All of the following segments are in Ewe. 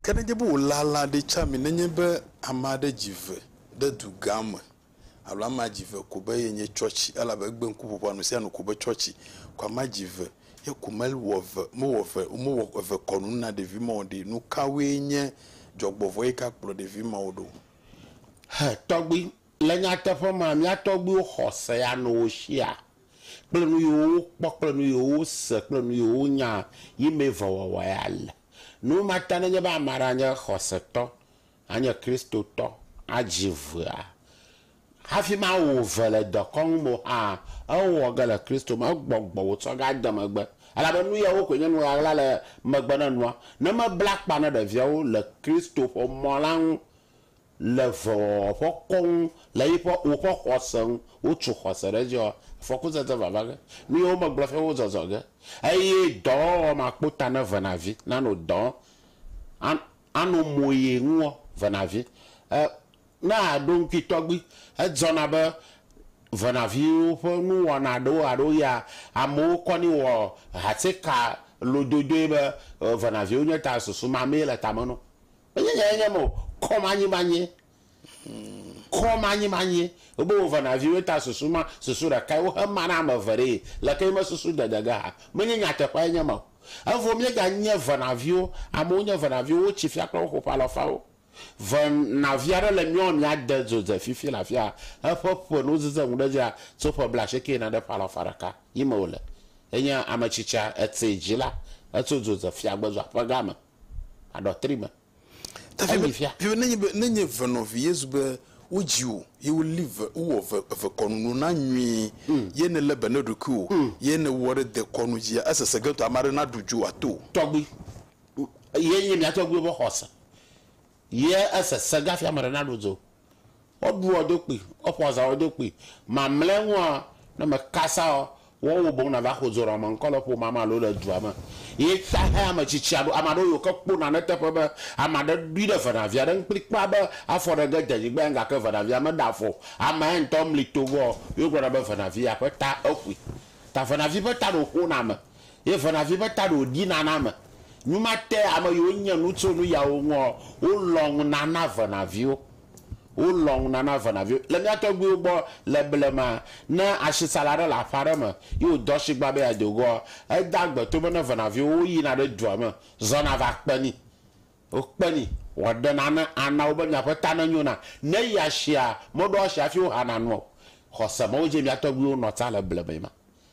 Ke nenye be wòlea lã ɖe tsã mi, nenye be ame aɖe dzi ve ɖe dugã me, alo amea dzi ve ko be yenye tsɔtsi, elabe egbe ŋkuƒoƒoa nu sia nu ko be tsɔtsi, ko amea dzi ve ye ko mewɔ ve, mewɔ ve, womewɔ ve kɔnu na ɖevi ma o ɖe, nu kawoe nye dzɔgbɔvɔ̃ yi ke akplɔ ɖevi mawo ɖo? Hɛ tɔgbi, Le nyateƒe mea, mía tɔgbiwo xɔ se ya nɔ wo shia kple nu yiwo wokpɔ kple nu yiwo wose kple nu yiwo wonya yi mee vewɔwɔ ya le. Nu ma ta nenye be ame aɖe anye xɔsetɔ, anye Kristotɔ, adzi vea, hafi ma wò ve le dekɔnu me o hã, ewɔ ge le Kristo me, egbɔgbɔ wòtsɔ ge ade megbe. Elabe nu yawo koe nye nu ɣaɣla le megbe na nua, ne mebla akpa na ɖeviawo le Kristo ƒe mɔ la ŋu. Le vɔvɔ̃wɔƒe kɔŋ le yiƒe woƒe xɔse ŋu, wotso xɔse ɖe edzi ɔ, afɔkuzeze vava ge, nuyiwo megblɔ fia wozɔzɔ ge, eye dɔwɔwɔ makpota ne vena vi nano dɔ an ano moye ŋuɔ, vena vi e ne aɖo ŋkui tɔgbi edzɔna be vena viwo ƒe nuwɔna ɖewo alo ya amewo kɔni wɔ hatseka lododoe be vena viwo nye ta susu mamee le tame no Menye nyae nye eme o. Kɔmanyimanyie. Kɔmanyimanyie. Wobe wò vena viwoe ta susu ma, susu ɖekae wohe ma na ame eve ɖee. Lekee me susu dede ge hã. Menye nyateƒeae nye eme o. Evɔ míega nye vena viwo. Amewo nye vena viwo. Wotsi fia kple woƒe ƒe alɔfawo. Vena vi aɖe le míawo ame ade dzo dze fifi le afia. Eƒe ƒe nu zize ŋu ɖe dzia tso ƒe blaasieke yina ɖe ƒe alɔfa ɖeka yi me wòle. Enye ame tsitsia, etsɛ dzila. Etso dzo dze fiagbedzo aƒe ga me. aɖɔtri me heyi fia. Fi nenye be nenye ve nɔvi Yesu be wodzi wò ye woli ve wowɔ ve eve kɔnu no na nyuie mm. ye ne le be ne ɖokui wò mm. ye ne wɔ ɖe de kɔnu dzia esese ge to ame aɖe na ɖu dzo ato tɔgbi ye nye mia tɔgbi be xɔse ye esese gafia ame aɖe na ɖu dzo Woɖuɔ ɖokui, woƒɔ zã wo ɖokui. Mamlɛ ŋua, ne me kasaɔ, woɔ wo boŋ na va xodzo nɔ ame ŋkɔ le ƒomea me alo le dua me. Ye xexe ame tsitsia ɖo. Ama ɖewo yi woke kpo nane teƒe be ama ɖe ɖui ɖe venavia ɖe ŋu kpli kpɔa be afɔ ɖe ge de nyigba ya ŋu gake venavia meɖe afɔ o. Ama ya ŋutɔ mli to gbɔ ye wogblɔ na be venavia ƒe ta exui. Ta venavi ƒe ta ɖo ƒona ame. Ye venavi ƒe ta ɖo ɖi nana me. Nu ma te ame yiwo nye nu tso nu yawo ŋuɔ, wo lɔ̃ ŋu nana venaviwo. Wo lɔ̃ ŋu nana venaviwo. Le mía tɔgbuiwo gbɔ le blema, ne ashisala ɖe le aƒe aɖe me ye wòdo ashigba be yeado goɔ, edea agbe to be ne venaviwo wo yina ɖe dua me zɔna va kpe ni. Wo kpe ni. Wɔ ɖe nane ana wo be miaƒe ta ne nyona. Ne yi ashia, meɖo ashi hafi wo hana nua o. Xɔse me wo dze mía tɔgbuiwo nɔ ta le blema yi ma.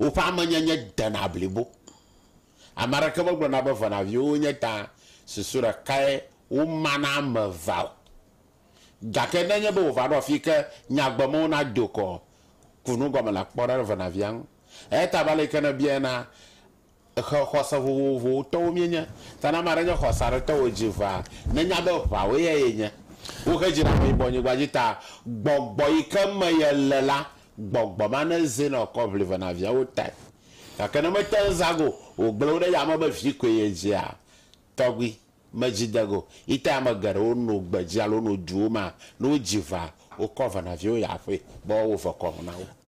Woƒe amenyenye dena blibo. Ame aɖeke megblɔna be venaviwo wonye ta susu ɖekae woma na ame evea o. Gake ne enye be wòva ɖo afii ke nyagbemewo nado kɔ kunu gɔme le kpɔɖeɖe venavia ŋu. Eya ta be ale yi ke nèbiae na Xe xɔse vovovowo tɔwo míenye. Ta ne ame aɖe nye xɔse aɖe tɔ wòdzi ʋãa, nenya be ʋã wòe ya yenye. Woxe dzi ɖe ameyibɔnyigba dzi ta gbɔgbɔ yi ke me yele la, gbɔgbɔ ma nezinɔ kɔ ʋli ve na viawo tae. Gake ne mete ŋu zã go o, wògblẽ wo ɖe yame be vi koe yedzia tɔgbi me dzi de go. Yi tae ame geɖewo no gbedzi alo no duwo mea, ne wodzi ʋãa, wokɔ ve na viawo yia aƒee be woawɔ vekɔnu na wo.